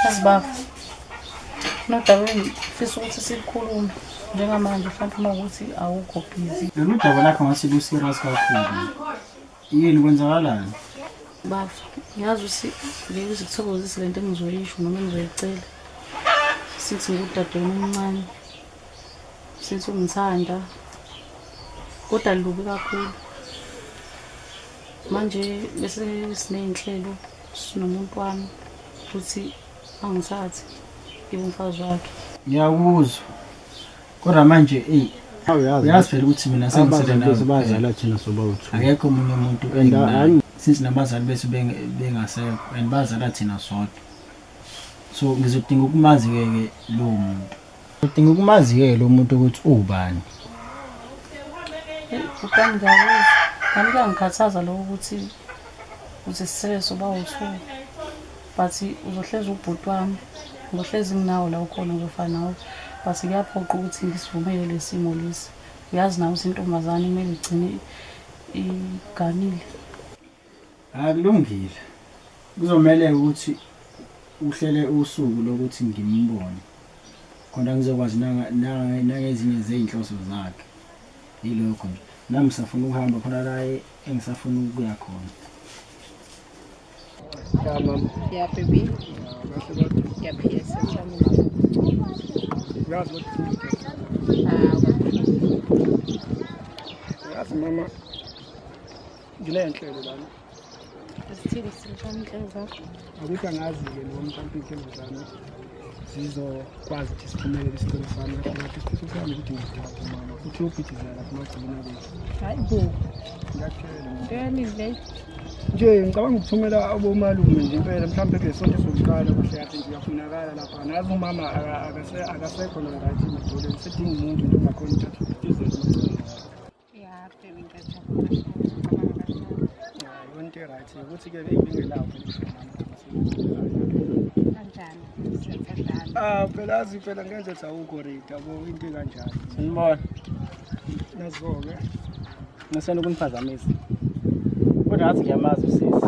Asibaba. Nodaba engifisa ukuthi sikhulume njengamanje mhlawumbe uma ukuthi awukho busy. Lolu daba lakho ngathi lu-serious kakhulu. Yini kwenzakalani? Bafa, ngiyazi ukuthi ngeke uze kuthokozise le nto engizoyisho noma engizoyicela. Sithi ngudadewenu omncane. since ungithanda kodwa lubi kakhulu manje bese siney'nhlelo sinomuntu wami ukuthi angithathe ibe umfazi wakhe ngiyakuzwa kodwa manje eyi uyazi phela ukuthi mina sengiselebazala thina sobawethu akekho omunye umuntu since nabazali bethu bengasekho and bazala thina sodwa so ngizodinga ukumazi-ke ke lowo muntu Udinga ukumaziyela umuntu ukuthi uwubani. Ubani ngiyakuzwa. Kanti kuyangikhathaza lokho ukuthi uthi sisebenzi uba uthu. But uzohlezi ubhuti wami. Ngohlezi nginawo la ukhona ngizofa nawe. But kuyaphoqa ukuthi ngisivumele lesimo lesi. Uyazi nawe ukuthi intombazane kumele igcine iganile. Ah kulungile. Kuzomele ukuthi uhlele usuku lokuthi ngimbone. Khona ngizokwazi nanga nanga- nangezinye zezinhloso zakhe. Yilokho nje. Nami ngisafuna ukuhamba khona la e- engisafuna ukuya khona. Ya mama, Ya baby. kahle kodwa. Ya PS. Sami. Uyazi ukuthi Ah, uyazi mama nginey'nhlelo lana zithini sishani inhlelo zakho akuthi angazi-ke noma mhlawumpe iy'nhlelo zami zizokwazi ukuthi siphumelele isicelo sami kahlekahle isifiso sami ukuthi ngithathe mama futhi yobhidizela lapho magcina kwethu hayi bo ngiyakutshela ntoyaningi leyo nje ngicabanga ukuthumela abomalume nje impela mhlawumbe kule sonto sokuqala kuhle yathi nje uyafunakala lapha nazi umama akasekho narayithi madoleni sedinga umuntu nto ngakhona uthatha yonke right ukuthi ke beyibingelawo kanjani ah phela azi phela ngenze ukuthi awukho right yabo into kanjani sinibona naziboke ngisena ukuniphazamisa kodwa ngathi ngiyamazi usisi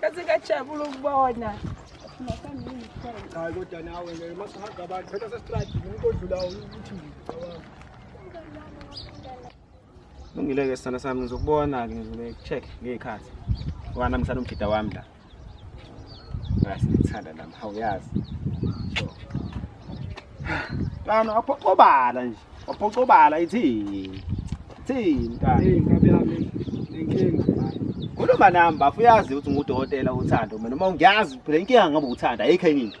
Kasingajabula ukubona. Hayi kodwa nawe ngeke masihamba abantu phela sesitrade umuntu odlulayo ukuthi ngicabanga. Lungile-ke sithanda sami ngizokubona-ke ngizobe check ngey'khathi ngoba nami ngisana umjida wami la ngasithanda nami hawuyazi so kano aphoqobala nje aphoqobala ithini ithini kani inkabi yami nenkinga khuluma nami bafuyazi ukuthi ngudokotela uthando mina uma ngiyazi phela inkinga ngabe uthanda ayikho enye into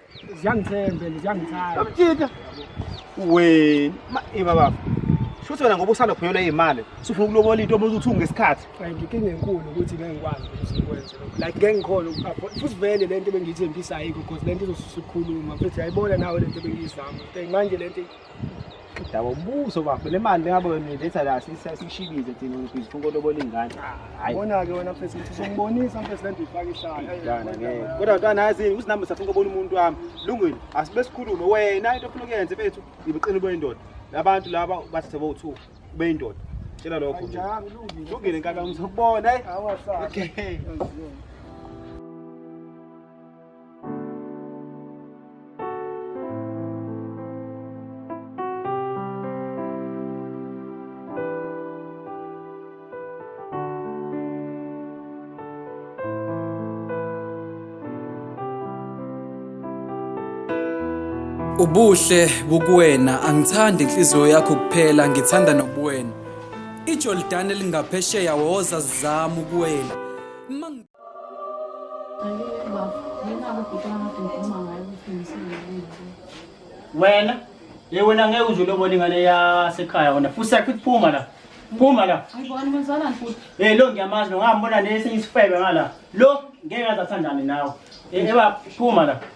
ziyangithembe ziyangithanda amjita wena ima baba shuthi wena ngoba usanda kuphunyelwa iy'mali sufuna ukulobola into obuze ukuthi ungesikhathi ngikinga enkulu ukuthi ngeke ngikwazi ukuthi ngikwenze like ngeke ngikhona futhi vele le nto ebengiyithembisayo ikho because le nto izosusa ukukhuluma futhi yayibona nawe le nto ebengiyizama manje le nto Daba umbuso bafo le mali bengabe wena letha la sisishibize thina ngifisa ufuna ulobola ingane. Hayi. Bona ke wena mfethu ukuthi uzombonisa mfethu lento ifaka isandla. Dana ngeke. Kodwa ntwana yazi ukuthi nami safuna ukubona umuntu wami. Lungile, asibe sikhulume wena into ofuna ukuyenza mfethu ibuqini boyindoda. Labantu laba bathathe bo2 beyindoda. Tshela lokho nje. Anjalo lungile. Lungile nkaka ngizokubona eh. Awasala. Okay. Aziyo. Ubuhle bukuwena angithandi inhliziyo yakho kuphela ngithanda nobuwena. Ijordani elingaphesheya woza zizama ukuwela. wena ye wena ngeke uze ulobona ingane yasekhaya wena futhi yakho iphuma la phuma la um lo ngiyamazi lo ngambona nesinye isifebe ngala lo ngeke aze athandane nawe ebaba phuma la